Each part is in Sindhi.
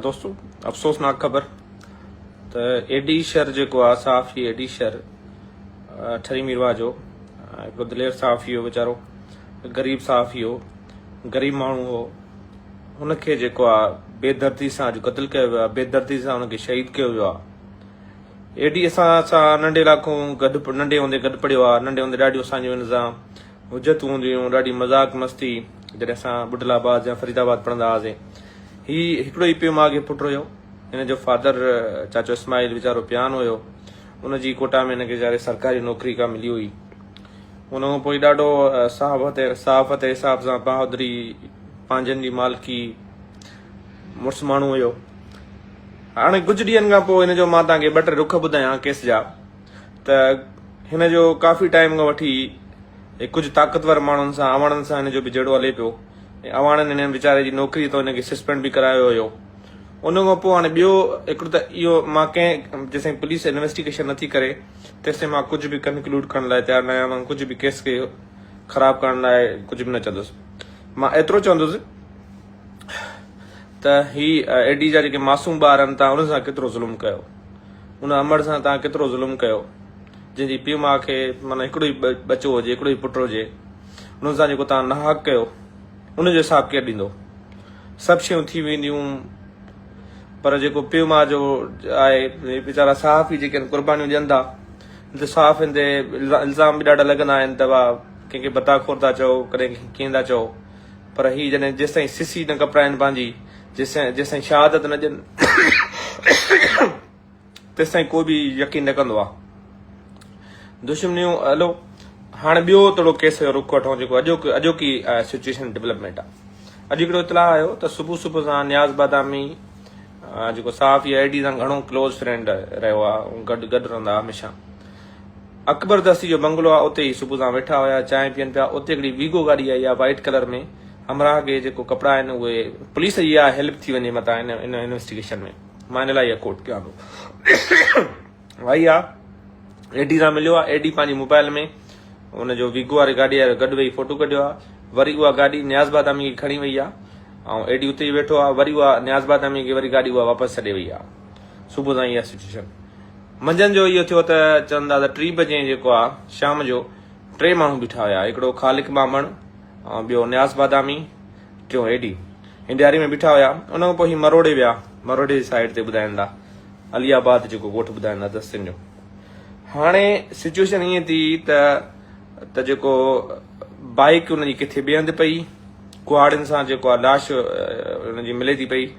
دوستو افسوسناڪ خبر ته ايڊي شر جيڪو آ صحافي ايڊي شر ٺري ميروا جو هڪ دلير صحافي هو ويچارو غريب صحافي هو غريب ماڻهو هو ان کي جيڪو آ بي دردي سان اڄ قتل ڪيو ويو آ بي دردي سان ان کي شهيد ڪيو ويو آ ايڊي اسان سان ننڍي علاقو گڏ ننڍي هوندي گڏ پڙهيو آ ننڍي هوندي ڏاڍيو اسان جو ان سان حجتون هونديون هيون ڏاڍي مذاق مستي جڏهن اسان ٻڍل آباد يا فريد آباد پڙهندا هئاسين هي هڪڙو ئي پيو ماء کي پٽ رهيو هن جو فادر چاچو اسماعيل ويچارو پيان هيو ان جي ڪوٽا ۾ هن کي ويچاري سرڪاري نوڪري ڪا ملي هئي ان کان پوء ڏاڍو صحافت صحافت حساب سان بهادري پنهنجن جي مالڪي مڙس ماڻهو هيو هاڻي ڪجهه ڏينهن کان پوء هن جو مان تان کي ٻه ٽي رخ ٻڌايان ڪيس جا ته هن جو ڪافي ٽائيم کان وٺي ڪجهه طاقتور ماڻهن سان اواڻن سان هن جو به جهيڙو هلي پيو ۽ اواڻن هن ويچاري جي نوڪري تان هن کي سسپينڊ به ڪرايو هيو ان کان پوء هاڻي ٻيو هڪڙو ته اهو مان ڪنهن جيسين پوليس انويسٽيگيشن نٿي ڪري تيسين مان ڪجهه به ڪنڪلوڊ ڪرڻ لاء تيار نه آهيان ڪجهه به ڪيس کي خراب ڪرڻ لاء ڪجهه به نه چوندس مان ايترو چوندس ته هي اي ڊي جا جيڪي معصوم ٻار آهن تان انهن سان ڪيترو ظلم ڪيو ان امڙ سان توهان ڪيترو ظلم ڪيو جن جي پيء ماء کي معنی هڪڙو ئي ٻچو هجي هڪڙو ئي پٽ هجي انهن سان جيڪو توهان ناحق ڪيو ان جو حساب ڪير ڏيندو سڀ شيون ٿي وينديون پر جيڪو پيء ماء جو آهي ويچارا صحافي جيڪي قربانيون ڏين ٿا ته صحافين تي الزام به ڏاڍا لڳندا آهن ته وا ڪنهن کي بتا خور ٿا چئو ڪڏهن ڪيئن ٿا چئو پر هي جڏهن جيستائين سسي نه ڪپرائين پنهنجي، جيستائين شهادت نه ڏين تيستائين ڪو به يقين نه ڪندو آ. دشمنيون هلو هاڻ ٻيو توڙو ڪيس جو رخ وٺون جيڪو اڄوڪي اڄوڪي سچوئيشن ڊولپمينٽ آ. اڄ هڪڙو اطلاع آيو ته صبح صبح سان نياز بادامي جيڪو صحافي اي ڊي سان گهڻو ڪلوز فرينڊ رهيو آ گڏ گڏ رهندا هميشه اڪبر دستي جو بنگلو آ اتي هي صبح سان ويٺا هيا چانهه پين پيا اتي هڪڙي ويگو گاڏي آئي آ وائيٽ ڪلر ۾ همراهه کي جيڪو ڪپڙا آهن اهي پوليس جي آ هيلپ ٿي وڃي متان ان ان انويسٽيگيشن ۾ مان ان لاء هي ڪوٽ ڪيان ٿو وائي آ اي ڊي سان مليو آ اي ڊي پنهنجي موبائل ۾ ان جو ويگو واري گاڏي وارو گڏ ويهي فوٽو ڪڍيو آ وري اها گاڏي نياز بادامي کي کڻي وئي آ ۽ اي ڊي اتي ئي ويٺو آ وري اها نياز بادامي کي وري گاڏي اها واپس ڇڏي وئي آ صبح سان هي سچويشن منجهند جو اهو ٿيو ته چون ٿا ته ٽي بجي جيڪو آهي شام جو ٽي ماڻهو بيٺا هيا هڪڙو خالق ٻانڀڻ ۽ ٻيو نياز بادامي ٽيون اي ڊي هن ڏياري ۾ بيٺا هيا ان کان پوء هي مروڙي ويا مروڙي جي سائيڊ تي ٻڌائين ٿا علي آباد جيڪو ڳوٺ ٻڌائين ٿا دستين جو هاڻي سچويشن ائين ٿي ته ته جيڪو بائيڪ ان جي ڪٿي ٻئي هنڌ پئي ڪهاڙين سان جيڪو آهي لاش ان جي ملي ٿي پئي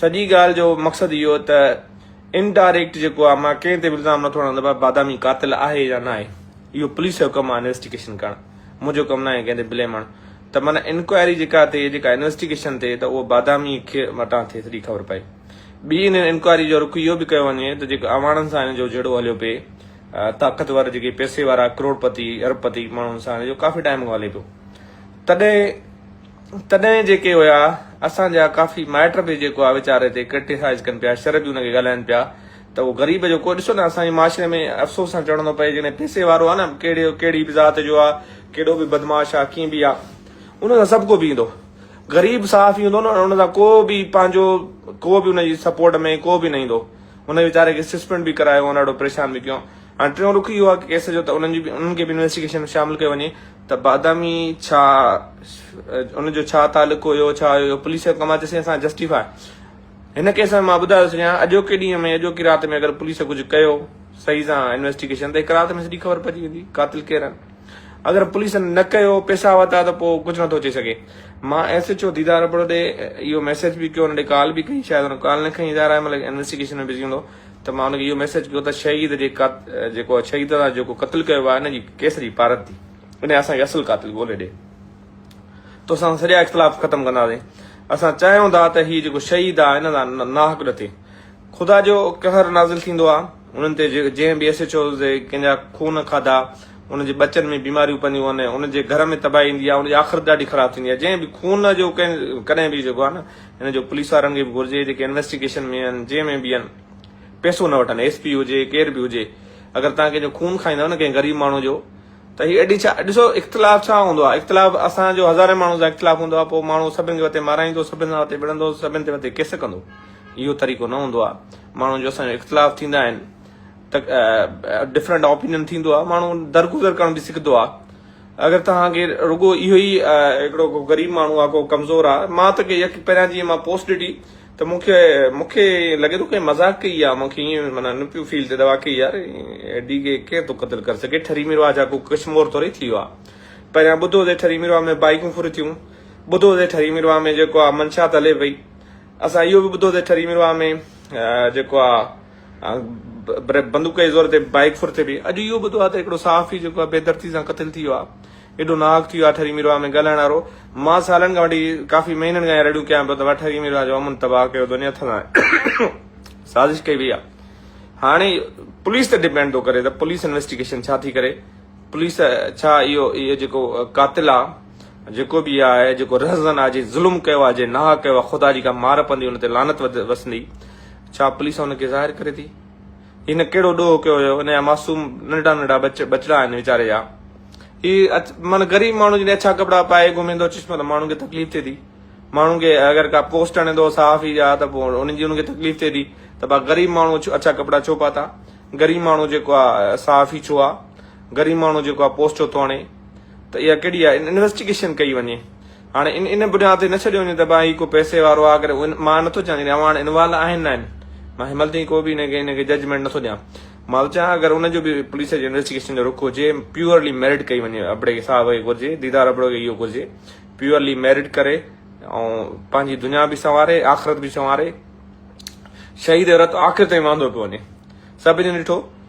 سڄي ڳالهه جو مقصد اهو ته ان ڊائريڪٽ جيڪو آهي مان ڪنهن تي به الزام نٿو هڻان ته ڀاء بادامي قاتل آهي يا ناهي اهو پوليس جو ڪم آهي انويسٽيگيشن ڪرڻ منهنجو ڪم ناهي ڪنهن تي بليم هڻ ته معنيٰ انڪوائري جيڪا ٿئي جيڪا انويسٽيگيشن ٿئي ته اهو بادامي کي وٽان ٿئي سڄي خبر پئي ٻي ان انڪوائري جو رخ اهو به ڪيو وڃي ته جيڪو اواڻن سان هن جو جهيڙو هليو پئي طاقتور جيڪي پيسي وارا ڪروڙپتي اربپتي ماڻهن سان هن جو ڪافي ٽائم کان هلي پيو تڏهن تڏهن جيڪي هيا اسان جا ڪافي مائٽ به جيڪو آ ويچاري تي ڪرٽيسائز ڪن پيا شر به ان کي ڳالهائن پيا ته اهو غريب جو ڪو ڏسو نه اسان جي معاشري ۾ افسوس سان چوڻو ٿو پئي جيڪڏهن پيسي وارو آ نه ڪهڙي ڪهڙي به ذات جو آ ڪيڏو به بدمعاش آ ڪيئن به آ ان سان سڀ ڪو بيهندو غريب صحافي هوندو نه ان سان ڪو به پنهنجو ڪو به ان جي سپورٽ ۾ ڪو به نه ايندو ان ويچاري کي سسپينڊ به ڪرايو ان ڏاڍو پريشان به ڪيو هاڻي ٽيون رخ اهو آ ڪيس جو ته انهن جي به انهن کي به انويسٽيگيشن ۾ شامل ڪيو وڃي ته بادامي ڇا ان جو ڇا تعلق هيو ڇا هيو پوليس جو ڪم آهي چيسين اسان جسٽيفاء هن ڪيس ۾ مان ٻڌايو سڄڻيان اڄوڪي ڏينهن ۾ اڄوڪي رات ۾ اگر پوليس ڪجهه ڪيو صحيح سان انويسٽيگيشن ته هڪ رات ۾ سڄي خبر پئجي ويندي قاتل ڪير آهن اگر پوليس نه ڪيو پيسا وتا ته پو ڪجهه نٿو چئي سگهي مان S H O Didar Abro ڏي اهو ميسيج به ڪيو ان ڏي ڪال به ڪئي شايد ان ڪال نه کڻي ادارا ملڪ انويسٽيگيشن ۾ بزي هوندو ته مان ان کي اهو ميسيج ڪيو ته شهيد جي قات جيڪو شهيد سان جيڪو قتل ڪيو ويو آهي ان جي ڪيس جي پارت ٿي وڃي اسان کي اصل قاتل ڳولي ڏي توسان سان سڄا اختلاف ختم ڪنداسين اسان چاهيون ٿا ته هي جيڪو شهيد آهي ان سان ناحق نه ٿئي خدا جو قهر نازل ٿيندو آهي انهن تي جنهن به ايس ايچ اوز تي ڪنهن جا خون کاڌا ان جي ٻچن ۾ بيماريون پونديون آهن ان جي گهر ۾ تباهي ايندي آهي ان جي آخرت ڏاڍي خراب ٿيندي آهي جنهن به خون جو ڪنهن ڪڏهن به جيڪو آهي نه هن جو پوليس وارن کي به گهرجي جيڪي انويسٽيگيشن ۾ آهن جنهن ۾ به آهن پئسو نه وٺن ايس پي هجي ڪير به هجي اگر توهان ڪنهن جو خون کائيندؤ نه ڪنهن غريب ماڻهو جو ته هي ايڏي ڇا ڏسو اختلاف ڇا هوندو آهي اختلاف اسان جو هزارين ماڻهو سان اختلاف هوندو آهي پوء ماڻهو سڀن کي وتي مارائيندو سڀن سان وتي وڙهندو سڀن تي وتي ڪيس ڪندو اهو طريقو نه هوندو آهي ماڻهو جو اسان جو اختلاف ٿيندا آهن ته ڊفرنٽ اوپينين ٿيندو آهي ماڻهو درگذر ڪرڻ به سکندو آهي اگر توهان کي رڳو اهو ئي هڪڙو ڪو غريب ماڻهو آ ڪو ڪمزور آ مان ته ڪي يڪ پهريان جيئن مان پوسٽ ڏٺي ته مون کي مون کي ائين لڳي ٿو ڪنهن مذاق ڪئي آ مون کي ائين معنيٰ نه پيو فيل ٿئي ته واقعي يار ڊي کي ڪير ٿو قتل ڪري سگهي ٺري ميرواهه جا ڪو ڪش مور ٿوري ٿي ويو آ پهريان ٻڌو هوسي ٺري ميرواهه ۾ بائيڪون ڦر ٿيون ٻڌو هوسي ٺري ميرواهه ۾ جيڪو آ منشات هلي پئي اسان اهو به ٻڌو هوسي ٺري ميرواهه ۾ جيڪو آ بندوق جي زور تي بائيڪ ڦر ٿئي پئي اڄ اهو ٻڌو آهي ته هڪڙو صحافي جيڪو آهي بيدرتي سان قتل ٿي ويو آهي ايڏو ناحق ٿي ويو آهي ٺري ميرواهه ۾ ڳالهائڻ وارو مان سالن کان وٺي ڪافي مهينن کان رڙيون ڪيان پيو ته وا ٺري ميرواهه جو امن تباهه ڪيو دنيا ٿلهاڻ جو سازش ڪئي وئي آهي هاڻي پوليس تي ڊپينڊ ٿو ڪري ته پوليس انويسٽيگيشن ڇا ٿي ڪري پوليس ڇا اهو اهو جيڪو قاتل آهي جيڪو به آهي جيڪو رهزن آهي جي ظلم ڪيو آهي جي ناحق ڪيو آهي خدا جي ڪا مار پوندي ان تي لعنت وسندي ڇا پوليس ان کي ظاهر ڪري ٿي؟ هن ڪهڙو ڏوهه ڪيو هيو؟ ان جا معصوم ننڍا ننڍا ٻچڙا آهن ويچاري جا. هي من غريب ماڻهو جڏهن اڇا ڪپڙا پائي گهمي ٿو چشمو ته ماڻهن کي تڪليف ٿئي ٿي. ماڻهن کي اگر ڪا پوسٽ آڻي ٿو صحافي جا ته پوء ان جي ان کي تڪليف ٿئي ٿي ته ڀا غريب ماڻهو اڇا ڪپڙا ڇو پاتا؟ غريب ماڻهو جيڪو آهي صحافي ڇو آهي؟ غريب ماڻهو جيڪو آهي پوسٽ ڇو ٿو آڻي؟ ته اها ڪهڙي آهي؟ انويسٽيگيشن ڪئي وڃي. هاڻي ان ان بڍا تي نه ڇڏيو وڃي ته ڀاء هي ڪو پئسي وارو آ ڪري مان نه ٿو چوان جڏهن اوهان وٽ انوالو آهن نه آهن مان هيمل تائين ڪو به ان کي ججمينٽ نه ٿو ڏيان مان ٿو چاهيان اگر ان جو به پوليس جي انويسٽيگيشن جو رخ هجي پيورلي ميرٽ ڪئي وڃي ابڙي صاحب کي گهرجي ديدار ابڙو کي اهو گهرجي پيورلي ميرٽ ڪري ۽ پنهنجي دنيا به سنواري آخرت به سنواري شهيد رت آخر تائين واندو پيو وڃي سڀني ڏٺو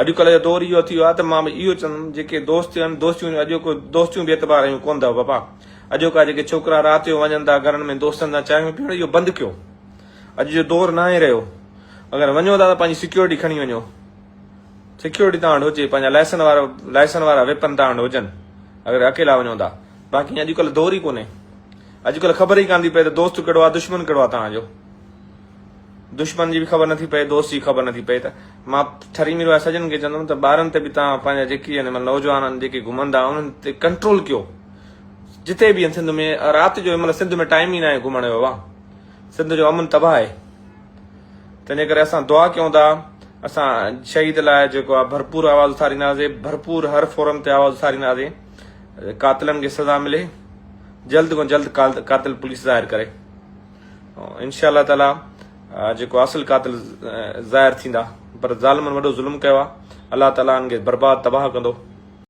اڄڪلهه جو دور اهو ٿي ويو آهي ته مان به اهو چوندم جيڪي دوست آهن دوستيون به اڄوڪو دوستيون بي اعتبار رهيون ڪونه اٿو بابا اڄوڪا جيڪي ڇوڪرا رات جو وڃن ٿا گهرن ۾ دوستن سان چانهيون پيئڻ اهو بند ڪيو اڄ جو دور ناهي رهيو اگر وڃو ٿا ته پنهنجي سيڪيورٽي کڻي وڃو سيڪيورٽي تان وٽ هجي پنهنجا لائسن وارا لائسن وارا ويپن تان وٽ هجن اگر اڪيلا وڃو ٿا باقي اڄڪلهه دور ئي ڪونهي اڄڪلهه خبر ئي ڪانه ٿي پئي ته دوست ڪهڙو آهي دشمن ڪهڙو آهي تان جو دشمن جي به خبر نٿي پئي دوست جي خبر نٿي پئي ته مان ٺري مير واري سڄڻن کي چوندم ته ٻارن تي به تان پنهنجا جيڪي هن مان نوجوان آهن جيڪي گهمن ٿا انهن تي ڪنٽرول ڪيو جتي به سنڌ ۾ رات جو مطلب سنڌ ۾ ٽائم ئي ناهي گهمڻ جو واهه سنڌ جو امن تباهه آهي تنهنجي ڪري اسان دعا ڪيون ٿا اسان شهيد لاء جيڪو آهي ڀرپور آواز اٿارينداسي ڀرپور هر فورم تي آواز اٿارينداسي قاتلن کي سزا ملي جلد کان جلد قاتل پوليس ظاهر ڪري انشاء الله تعالي جيڪو اصل قاتل ظاهر ٿيندا پر ظالمن وڏو ظلم ڪيو آهي الله تعالي ان کي برباد تباهه ڪندو.